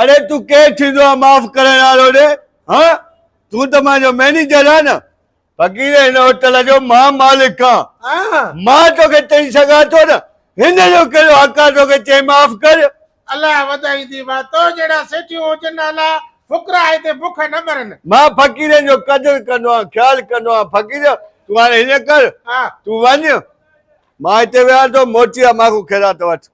اڙي تون ڪير ٿيندو آهين معاف ڪرڻ وارو ڙي هه تون ته منهنجو مئنيجر آهين نه فقير هن هوٽل جو مان مالڪ آهان مان توکي چئي سگهان ٿو نه هن جو ڪهڙو حق آهي توکي چئي معاف ڪر. الله وڌائي ديوا تو جهڙا سيٺيون هجن الا فقرا هتي بک نه مرن. مان فقيرن جو قدر ڪندو آهيان خيال ڪندو آهيان فقير تون هاڻي هيئن ڪر تون وڃ مان هتي ويهان ٿو موٽي آ مان کان خيرات وٺ.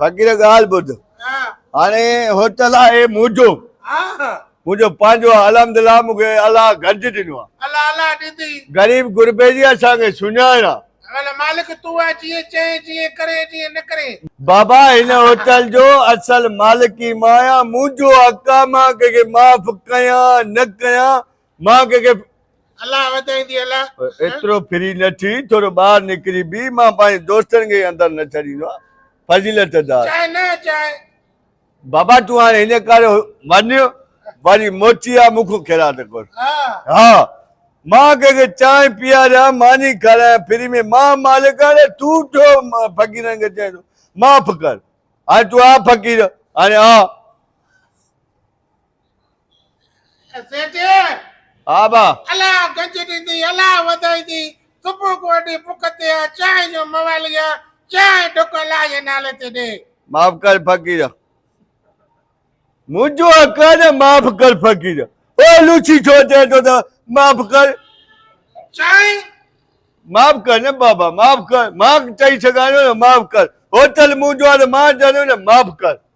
فقير ڳالهه ٻڌ هاڻي هوٽل آهي منهنجو منهنجو پنهنجو آهي الحمدلله مون کي الله گڏج ڏنو آهي غريب غربي جي اسان کي سڃاڻ آهي بابا هن هوٽل جو اصل مالڪ ئي مان آهيان منهنجو حق آهي مان ڪنهن کي معاف ڪيان نه ڪيان مان ڪنهن کي الله وڌائيندي الله ايترو فري نه ٿي ٿورو ٻاهر نڪري بيهه مان پنهنجي دوستن کي اندر نه ڇڏيندو آهيان فضيلت دار چاهي نه چاهي بابا تون هاڻي هن ڪاري وڃ وري موٽي آ مونکو خيرات ڪر ها مان ڪنهن کي چانهه پياريان ماني کارايان فري ۾ مان مالڪ آهيان اڙي تون ڇو فقيرن کي چئين ٿو معاف ڪر هاڻي تون آ فقير هاڻي آ سيٺي ها با الا گنج ڏيندي الا وڌائيندي صبح کو اڏي بک تي آ چانهه جو موالي آ چانهه ڍڪ الا جي نالي تي ڏي معاف ڪر فقير منهنجو حق آ نه معاف ڪر فقير او لوچي ڇو چئي ٿو ته معاف ڪر چانهه معاف ڪر نه بابا معاف ڪر مان چئي سگهان ٿو نه معاف ڪر هوٽل منهنجو آ ته مان چوان ٿو نه معاف ڪر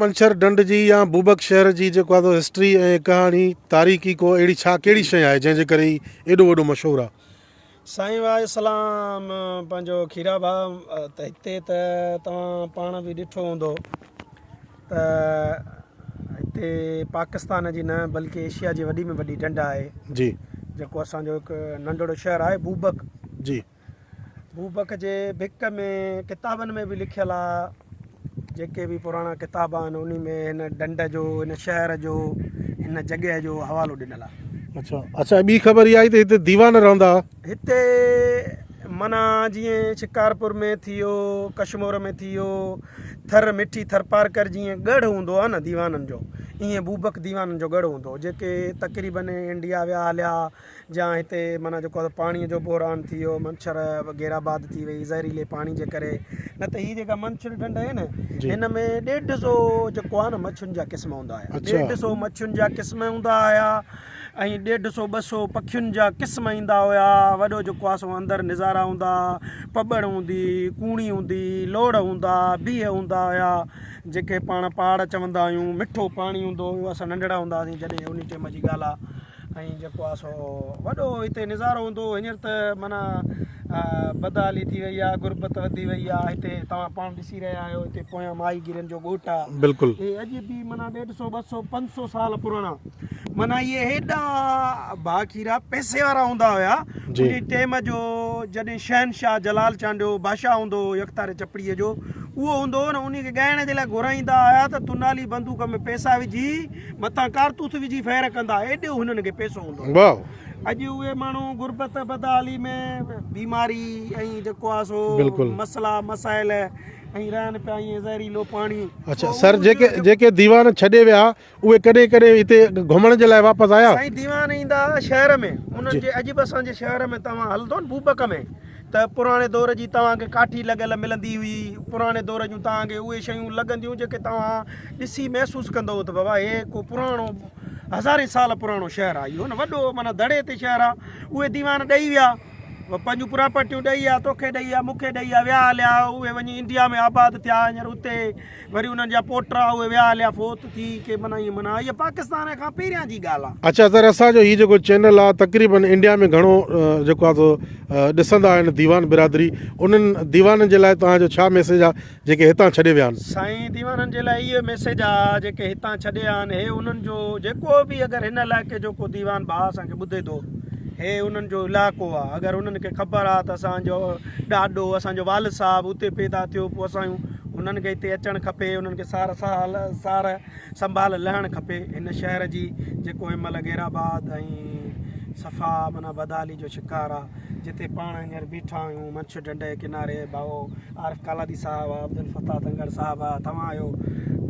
منڇر ڍنڍ جي يا بوبڪ شهر جي جيڪو آهي سو هسٽري ۽ ڪهاڻي تاريخي ڪو اهڙي ڇا ڪهڙي شيء آهي جنهن جي ڪري هي ايڏو وڏو مشهور آهي. سائين واھ اسلام پنهنجو کيرا ڀاء ته هتي ته توهان پاڻ به ڏٺو هوندو ته هتي پاڪستان جي نه بلڪه ايشيا جي وڏي ۾ وڏي ڍنڍ آهي جي جيڪو اسان جو هڪ ننڍڙو شهر آهي بوبڪ جي بوبڪ جي بڪ ۾ ڪتابن ۾ به لکيل آ جيڪي به پراڻا ڪتاب آهن انهي ۾ هن ڍنڍ جو هن شهر جو هن جڳهه جو حوالو ڏنل آ اچھا اچھا ٻي خبر اها آئي ته هتي ديوان رهندا هئا هتي منا جيئن شڪارپور ۾ ٿي ويو ڪشمور ۾ ٿي ويو ٿر مٺي ٿرپارڪر جيئن ڳڙهه هوندو آ نه ديوانن جو ايئن بوبڪ ديوانن جو ڳڙهه هوندو هو جيڪي تقريبن انڊيا ويا هليا جا هتي معنيٰ جيڪو آهي پاڻي جو بحران ٿي ويو منڇر وغيره آباد ٿي وئي زهريلي پاڻي جي ڪري نه ته هي جيڪا منڇر ڍنڍ آهي نه هن ۾ ڏيڍ سو جيڪو آهي نه مڇين جا قسم هوندا آهي ڏيڍ سو مڇين جا قسم هوندا آيا ۽ ڏيڍ سو ٻه سو پکين جا قسم ايندا هيا وڏو جيڪو آهي سو اندر نظارا هوندا پٻڙ هوندي ڪوڻي هوندي لوڙ هوندا بيهه هوندا هيا جيڪي پاڻ پاڙ چوندا آهيون مٺو پاڻي هوندو هو اسان ننڍڙا هوندا هياسين جڏهن ان ٽيم جي ڳالهه آهي ۽ جيڪو آ سو وڏو هتي نظارو هوندو هو هينئر ته معنيٰ بدحالي ٿي وئي آ غربت وڌي وئي آ هتي توهان پاڻ ڏسي رهيا آهيو هتي پويان ماهي گيرن جو ڳوٺ آ بلڪل هي اڄ به معنيٰ ڏيڍ سو ٻه سو پنج سو سال پراڻا معنيٰ اهي هيڏا ڀاکيرا پئسي وارا هوندا هيا جي انهي ٽيم جو جڏهن شهنشاهه جلال چانڊيو بادشاهه هوندو هو يڪتاري چپڙي جو اهو هوندو هو نه انهي کي ڳائڻ جي لاء گهرائيندا هيا ته تنالي بندوق ۾ پئسا وجهي مٿان ڪارتوس وجهي فير ڪندا ايڏو هنن کي پيسو هوندو واو اڄ اهي ماڻهو غربت بدحالي ۾ بيماري ۽ جيڪو آ سو بلڪل مسئلا مسائل ۽ رهن پيا ائين زهريلو پاڻي اچھا سر جيڪي جيڪي ديوان ڇڏي ويا اهي ڪڏهن ڪڏهن هتي گهمڻ جي لاء واپس آيا سائين ديوان ايندا شهر ۾ انهن جي عجب اسان جي شهر ۾ توهان هلندو بوبڪ ۾ ته پراڻي دور جي توهان کي ڪاٺي لڳل ملندي هئي، پراڻي دور جون توهان کي اهي شيون لڳنديون جيڪي توهان ڏسي محسوس ڪندو هو ته بابا هي ڪو پراڻو هزارين سال پراڻو شهر آهي اهو نه وڏو معنيٰ دڙي تي شهر آهي اهي ديوان ڏئي ويا پنهنجون پراپرٽيون ڏئي ويا توکي ڏئي ويا مونکي ڏئي ويا ويا هليا اهي وڃي انڊيا ۾ آباد ٿيا هينئر اتي وري انهن جا پوٽا اهي ويا هليا فوت ٿي ڪي من ائين من هيء پاڪستان کان پهريان جي ڳالهه آهي. اچا سر اسان جو هي جيڪو چينل آ تقريبن انڊيا ۾ گهڻو جيڪو آ سو ڏسندا آهن ديوان برادري انهن ديوانن جي لاء توهان جو ڇا ميسيج آ جيڪي هتان ڇڏي ويا آهن. سائين ديوانن جي لاء اهو ميسيج آ جيڪي هتان ڇڏي ويا آهن هي انهن جو جيڪو به اگر هن علائقي جو ڪو ديوان ڀاء اسان کي ٻڌي ٿو هي انهن جو علائقو آ اگر انهن کي خبر آ ته اسان جو ڏاڏو اسان جو والد صاحب اتي پيدا ٿيو پوء اسان جون انهن کي هتي اچڻ کپي انهن کي سار سال سار سنڀال لهڻ کپي هن شهر جي جيڪو هن مهل غير آباد ۽ صفا معنيٰ بدحالي جو شڪار آهي جتي پاڻ هينئر بيٺا آهيون منڇ ڍنڍ جي ڪناري ڀائو عارف ڪالادي صاحب آهي عبدالفتاح دنگڙ صاحب آهي توهان آهيو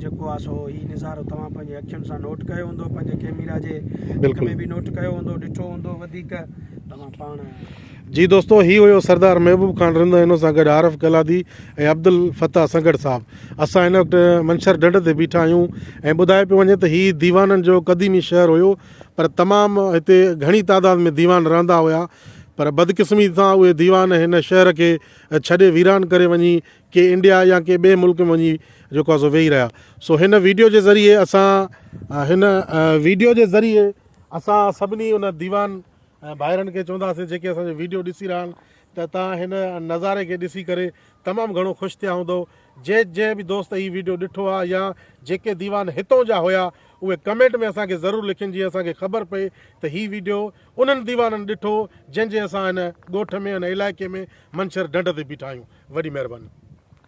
جيڪو آهي سو هي نظارو توهان پنهنجي اکين سان نوٽ ڪيو هوندو پنهنجي ڪئميرا جي ڪم ۾ به نوٽ ڪيو هوندو ڏٺو هوندو وڌيڪ توهان پاڻ جي دوستو هي هيو سردار محبوب خان رند ۽ ان سان گڏ عارف گلادي ۽ عبدالفتاح سنگهڙ صاحب اسان هن وقت منڇر ڍنڍ تي بيٺا آهيون ۽ ٻڌايو پيو وڃي ته هي ديوانن جو قديمي شهر هيو پر تمام هتي گهڻي تعداد ۾ ديوان رهندا هيا پر بدقسمتي سان اهي ديوان هن شهر کي ڇڏي ويران ڪري وڃي ڪي انڊيا يا ڪي ٻئي ملڪ ۾ وڃي جيڪو آهي سو ويهي رهيا سو هن ويڊيو جي ذريعي اسان هن ويڊيو جي ذريعي اسان سڀني ان ديوان ۽ ڀائرن کي چونداسين جيڪي اسان جو ويڊيو ڏسي رھيا آھن ته تھان ھن نظاري کي ڏسي ڪري تمام گھڻو خوش ٿيا ھوندؤ جي جنھن به دوست ھي ويڊيو ڏٺو آھي يا جيڪي ديوان ھتئون جا ھيا اھي ڪمينٽ ۾ اسان کي ضرور لکين جيئن اسان کي خبر پئي ته ھي ويڊيو انھن ديوانن ڏٺو جنھن جي اسان ھن ڳوٺ ۾ ھن علائقي ۾ منڇر ڍنڍ تي بيٺا آھيون وڏي مھرباني.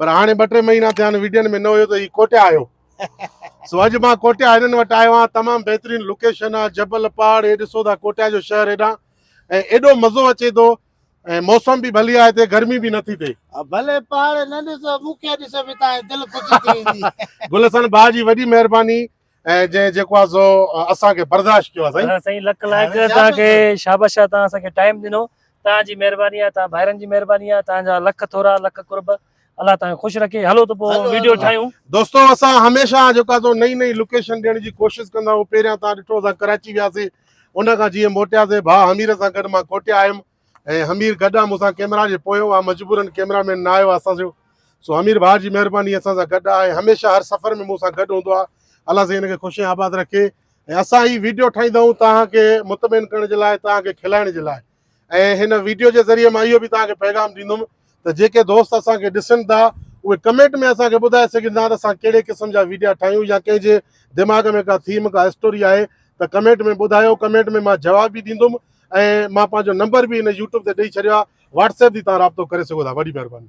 پر هاڻي ٻه ٽي مهينا ٿيا آهن ويڊين ۾ نه هيو ته هي ڪوٽيا آهيو سو اڄ مان ڪوٽيا هنن وٽ آيو آهيان تمام بهترين لوڪيشن آهي جبل پهاڙ هي ڏسو ٿا ڪوٽيا جو شهر هيڏانهن ۽ ايڏو مزو اچي ٿو ۽ موسم به ڀلي آهي هتي گرمي به نٿي ٿئي ڀلي پهاڙ نه ڏسو مون کي ڏسو به تان دل خوش ٿي ويندي گل حسن ڀاء جي وڏي مهرباني ۽ جنهن جيڪو آ سو اسان کي برداشت ڪيو آ سائين. ها سائين لک لاک توهان کي شاباش آ توهان اسان کي ٽائيم ڏنو توهان جي مهرباني آ توهان ڀائرن جي مهرباني آ توهان جا لک ٿورا لک قرب الله توهان کي خوش رکي هلو ته پو ويڊيو ٺاهيون. دوستو اسان هميشه جيڪو آ سو نئين نئين لوڪيشن ڏيڻ جي ڪوشش ڪندا آهيون پهريان توهان ڏٺو اسان ڪراچي وياسي ان کان جيئن موٽياسي ڀاء حمير سان گڏ مان ڪوٽيا آيم ۽ حمير گڏ آ مون سان ڪئميرا جي پويون آ مجبورن ڪئميرا مين نه آيو آ اسان جو سو حمير ڀاء جي مهرباني اسان سان گڏ آ ۽ هميشه هر سفر ۾ مون سان گڏ هوندو آ الله سائين هن کي خوش ۽ آباد رکي ۽ اسان هي ويڊيو ٺاهيندا آهيون توهان کي مطمئن ڪرڻ جي لاء توهان کي کلائڻ جي لاء ۽ هن ويڊيو جي ذريعي مان اهو به توهان کي پيغام ڏيندم ته جيڪي دوست اسان کي ڏسن ٿا اهي ڪمينٽ ۾ اسان کي ٻڌائي سگهن ٿا ته اسان ڪهڙي قسم جا ويڊيا ٺاهيون يا ڪنهن جي دماغ ۾ ڪا ٿيم ڪا اسٽوري آهي ته ڪمينٽ ۾ ٻڌايو ڪمينٽ ۾ مان جواب به ڏيندم ۽ مان پنهنجو نمبر به هن يوٽيوب تي ڏئي ڇڏيو آهي واٽس ايپ تي توهان رابطو ڪري سگهو ٿا وڏي مهرباني.